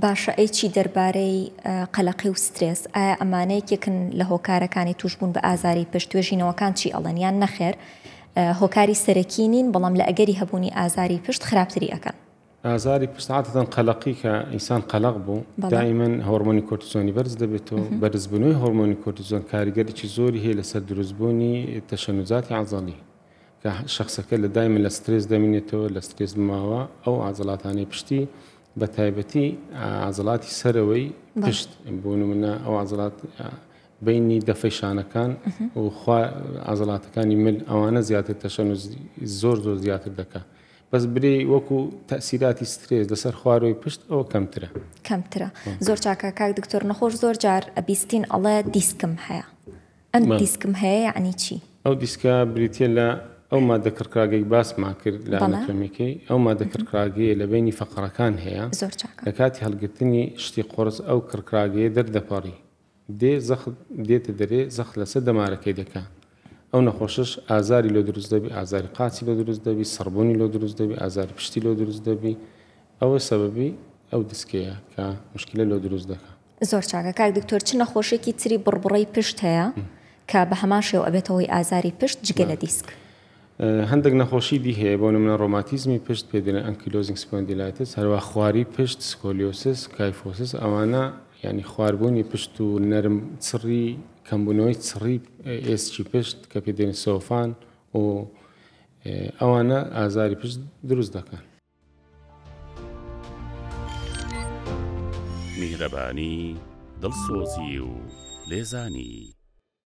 باشە ئەی چی دەربارەی قەلەقی و سترێس؟ ئایا ئەمانە یەکێکن لە هۆکارەکانی تووشبوون بە ئازاری پشت؟ توێژینەوەکان چی ئەڵێن یان نەخێر هۆکاری سەرەکی نین بەڵام لە ئەگەری هەبوونی ئازاری پشت خراپتری ئەکەن؟ ئازاری پشت عادەتەن قەلەقی کە ئینسان قەلەق بوو دائیمەن هۆرمۆنی کۆرتیزۆنی بەرز دەبێت و بەرزبوونەوەی هۆرمۆنی کۆرتیزۆن کاریگەریی زۆری هەیە لەسەر دروستبوونی تەشەنوزاتی عەزەڵی کە شەخسەکە لە دایمە لە سترێس دەمینێتەوە لە سترێس ماوە ئەو عەزەڵاتانەی پشتی بە تایبەتی عەزڵاتی سەرەوەی پشت بۆ نمونە ئەو عەزڵات بینی دەفەی شانەکان و خوا عزلاتەکانی مل ئەوانە زیاتر تەشەن و زۆر زۆر زیاتر دەکە بەس برێ وەکو تەسیراتی سترێز لەسەر خوارەوەی پشت ئەوە کەمترە کەمترە زۆر چاکە کاک دکتۆر نەخۆش زۆر جار ئەبیستین ئەڵێ دیسکم هەیە ئەم دیسکم هەیە یەعنی چی؟ ئەو دیسکە بریتیە لە ئەو مادە کڕکراگەی باسمان کرد لە ئەناتۆمیەکەی ئەو مادە کڕکراگەیە لە بینی فەقەرەکان هەیە لە کاتی هەڵگرتنی شتی قۆرس ئەو کڕکراگەیە دەردەپەڕی دێ زەخت دێتە دەرێ زەخت لەسەر دەمارەکەی دەکە ئەو نەخۆشش ئازاری لۆ دروست دەبی ئازاری قاچی لۆ دروست دەبی سڕبوونی لۆ دروست دەبی ئازاری پشتی لۆ دروست دەبی ئەوە سەبەبی ئەو دیسکەیە کە مشکلە لۆ دروست دەکە زۆر چاکە کاک دکتۆر چ نەخۆشێکی تری بڕبڕەی پشت هەیە کە بە هەمان شێوە ئەبێتە هۆی ئازاری پشت جگە لە دیسک؟ هەندێک نەخۆشی دی هەیە بۆ نمونە ڕۆماتیزمی پشت پێ دەێن ئەنکیلۆزینگ سپۆندیلایتس هەروە خواری پشت سکۆلیۆسس کایفۆسس ئەوانە ینی خواربوونی پشت و نەرم چڕی کەمبوونەوەی چڕی ئێسکی پشت کە پێ دێن سۆفان و ئەوانە ئازاری پشت دروست دەکەن. میهرەبانی، دڵسۆزی و لێزانی.